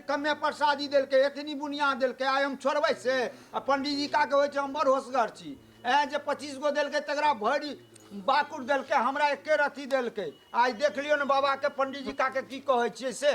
कमे प्रसादी देलकै एतनी बुनिया देलकै आइ हम छोड़बै से आ पंडीजी का कहै छै हम बड़ होसगर छी ए जे पच्चीस गो देलकै तकरा भरि बाकुर देलकै हमरा एके रत्ती देलकै आइ देख लियौ ने बाबाके पंडीजी काके की कहै छियै से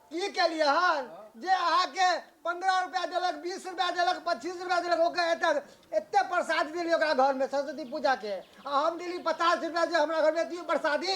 की केलियै हन जे अहाँके पंद्रह रुपया देलक बीस रुपया देलक पच्चीस रुपया देलक ओकर एते एते प्रसाद देली ओकरा घर में सरस्वती पूजा के आ हम देली पचास रुपया जे हमरा घर में दियो प्रसादी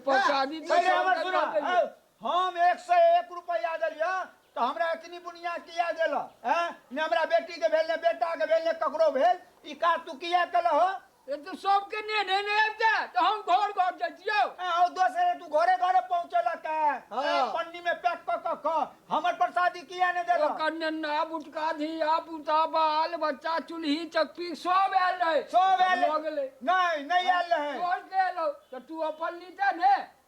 प्रसादी हैं? पहिले हमर सुनऽ, हौ, हम एक सौ एक रुपया देलियै तऽ हमरा एतनी बुनिया किया देलऽ हैं? ने हमरा बेटी के भेल ने बेटा के भेल ने ककरो भेल ई काज तू किया केलऽ हो ए तो सबके ने ने ने आबि जा तो हम घर घर जाइ छियो ए हौ दोसरे तू घरे घरे पहुंचेला के हाँ। ए, पन्नी में पैक क क क हमर प्रसादी किया ने देला ओकर नन्ना बुटका धिया पुता बाल बच्चा चूल्ही चक्की सब आयल रहे सब आयल लऽ गेलै नहीं नहीं आयल रहे तोहर के एलौ तऽ तू अपन लीते ने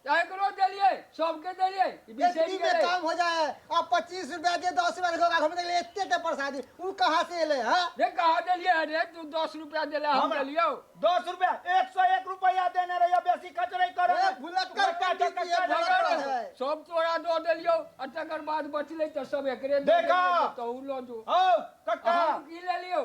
एकरो देलियै सबके देलियै ई बिसरि एतनी में गेलै काम हो जाए है अब पच्चीस रुपया दे दस रुपया देखो घर में देख ले एते के प्रसादी उ कहाँ से एले है रे कहा देलियै है रे तू दस रुपया देले हम हमरा- देलियौ दस रुपया एक सौ एक रुपया देने रहिए बेसी खर्च नहीं करो ए, भुलक्कर बड़का पंडित चक्कर जी, चढ़ा भुलक्कर करो। है। सब तोरा दऽ देलियौ आ तकर बाद बचलै तऽ सब एकरे दऽ देखा। देलियौ, तहू लऽ जो हौ कक्का हम की लेलियौ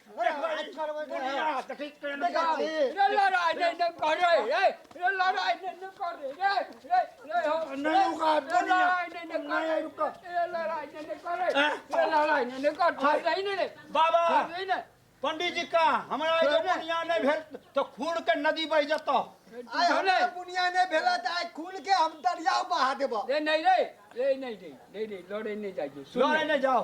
बाबा पंडित जी का हमरा एगो बुनिया नहीं भेल तो खून के नदी बह जतो आइ हमरा बुनिया नहि भेला तऽ आइ खुल के हम दरियाव बहा देबो रे नहीं रे रे नहीं रे नहीं रे लड़े नहीं जाइए लड़े नहीं जाओ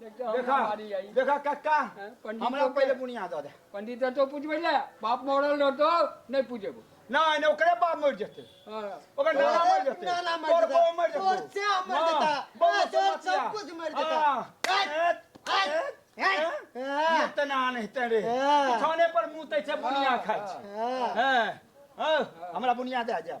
देखा कक्का हमरा पहिले बुनिया दऽ दे पंडित तो पूछबै ले बाप मरल रहतो नहि पूछेबो नहि नहि ओकरे बाप मरि जेतै ओकर नाना मरि जेतै नाना मरि जेतै तोर मरि जेतै तोर से मरि जेतै बहुत तोर सब कुछ मरि जेतै इतना नहीं तेरे खाने पर मुँह तै बुनिया खाए हमरा बुनिया दे जाए